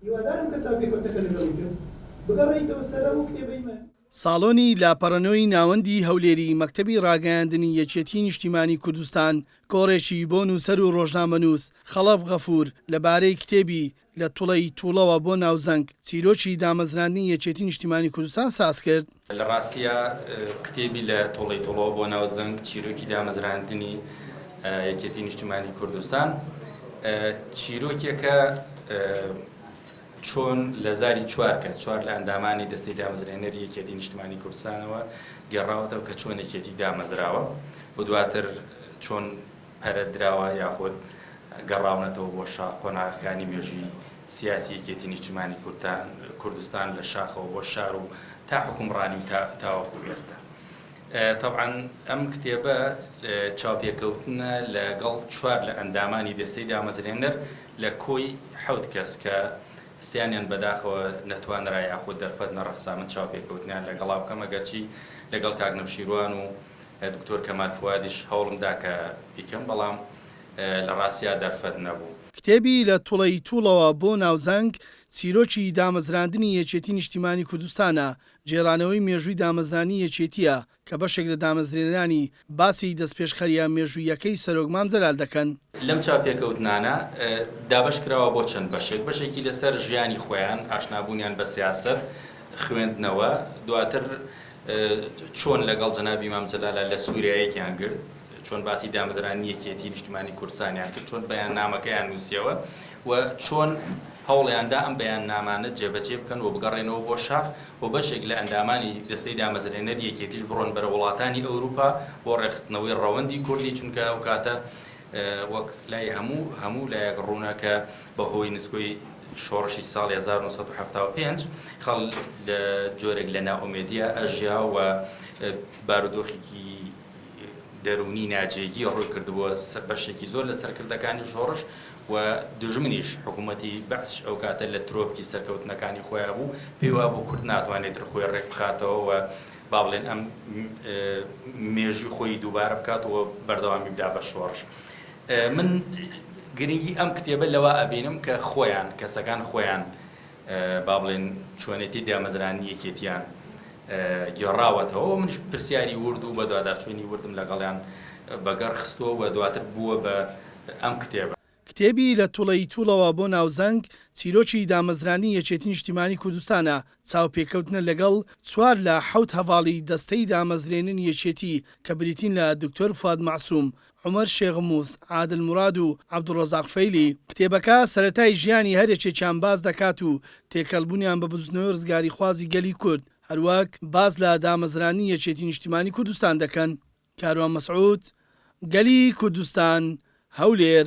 هیوادارم کە چاوپێکەوتنەکە لەگەڵی کرد بگەڕێیتەوە سەر ئەو کتێبەی من. ساڵۆنی لاپەڕەنۆی ناوەندی هەولێری مەکتەبی ڕاگەیاندنی یەکێتی نیشتیمانی کوردستان کۆڕێکی بۆ نووسەر و ڕۆژنامەنووس خەڵەف غەفوور لە بارەی کتێبی، لە توڵەی توڵەوە بۆ ناوزەنگ، چیرۆکی دامەزراندنی یەکێتی نیشتیمانی کوردستان سازکرد. لە ڕاستیا کتێبی لە تۆڵەی تۆڵەوە بۆ ناو زەنگ چیرۆکی دامەزراندنی یەکێتی نیشتمانی کوردستان چیرۆکێکە چۆن لە زاری چوار کەس چوار لە ئەندامانی دەستی دامەزرێنەر یەکێتی نیشتمانی کوردستانەوە گەڕاوەتەوە کە چۆن یەکێتی دامەزراوە و دواتر چۆن پەرە دراوە یاخود گەڕاونەتەوە بۆ شاخ قۆناغەکانی مێژووی سیاسی یەکێتی نیشتمانی کوردستان لە شاخەوە بۆ شار و تا حکومڕانی و تا تاوەکو ئێستا طبعاً ئەم کتێبە چاوپێکەوتنە لەگەڵ چوار لە ئەندامانی دەستەی دامەزرێنەر لە کۆی حەوت کەس کە سیانیان بەداخەوە نەتوانرا یاخود دەرفەت نەڕەخسا من چاوپێکەوتنیان لەگەڵا بکەم ئەگەرچی لەگەڵ کاک نەوشیروان و دکتۆر کەمال فوادیش هەوڵم دا کە بیکەم بەڵام لە ڕاستیا دەرفەت نەبوو. کتێبی لە توڵەی توڵەوە بۆ ناوزەنگ، چیرۆکی دامەزراندنی یەکێتی نیشتیمانی کوردستانە، گێڕانەوەی مێژووی دامەزرانی یەکێتییە کە بەشێک لە دامەزرێنەرانی باسی دەستپێشخەرییە مێژووییەکەی سەرۆک مام جەلال دەکەن. لەم چاوپێکەوتنانە دابەش کراوە بۆ چەند بەشێک، بەشێکی لەسەر ژیانی خۆیان، ئاشنابوونیان بە سیاسەت، خوێندنەوە، دواتر، چۆن لەگەڵ جەنابی مام جەلالە لە سووریا یەکیان گرت، چۆن باسی دامەزرانی یەکیەتیی نیشتمانیی کوردستانیان کرد، چۆن بەیاننامەکەیان نووسیەوە و چۆن هەوڵیان دا ئەم بەیاننامانە جێبەجێ بکەن و بگەڕێنەوە بۆ شاخ و بەشێک لە ئەندامانی دەستەی دامەزرێنەری یەکیەتیش بڕۆن بەرەو وڵاتانی ئەورووپا بۆ ڕێکخستنەوەی ڕەوەندی کوردی، چونکە ئەو کاتە وەک لای هەموو هەموو لایەک ڕوونە کە بە هۆی نسکۆی شۆڕشی ساڵی هەزار و نۆ سەد و حەفتا و پێنج خەڵ لە جۆرێک لە نائومێدیا ئەژیا و بارودۆخێکی دەروونی ناجێگی ڕووی کردبووە سەر بەشێکی زۆر لە سەرکردەکانی شۆڕش و دوژمنیش حکوومەتی بەعسش ئەو کاتە لە ترۆپکی سەرکەوتنەکانی خۆیان بوو پێی وابوو کورد ناتوانێت تر خۆی ڕێک بخاتەوە و با بڵێن ئەم مێژووی خۆی دووبارە بکات و بەردەوامی بدا بە شۆڕش. من گرنگی ئەم کتێبە لەوە ئەبینم کە خۆیان، کەسەکان خۆیان با بڵێن چۆنێتی دامەزرانی یەکێتیان گێڕاوەتەوە و منش پرسیاری ورد و بەدواداچوونی وردم لەگەڵیان بەگەڕ خستووە و دواتر بووە بە ئەم کتێبە. کتێبی لە توڵەی توڵەوە بۆ ناوزەنگ، چیرۆکی دامەزرانی یەکێتی نیشتیمانی کوردستانە، چاوپێکەوتنە لەگەڵ چوار لە حەوت هەڤاڵی دەستەی دامەزرێننی یەکێتی کە بریتین لە دکتۆر فواد مەعسوم، عومەر شێخ موس، عادل موراد و عەبدولڕەزاق فەیلی. کتێبەکە سەرەتای ژیانی هەر یەکێکیان باس دەکات و تێکەڵبوونیان بە بزوتنەوەی ڕزگاریخوازی گەلی کورد، هەروەک باس لە دامەزرانی یەکێتی نیشتیمانی کوردستان دەکەن. کاروان مەسعود، گەلی کوردستان، هەولێر.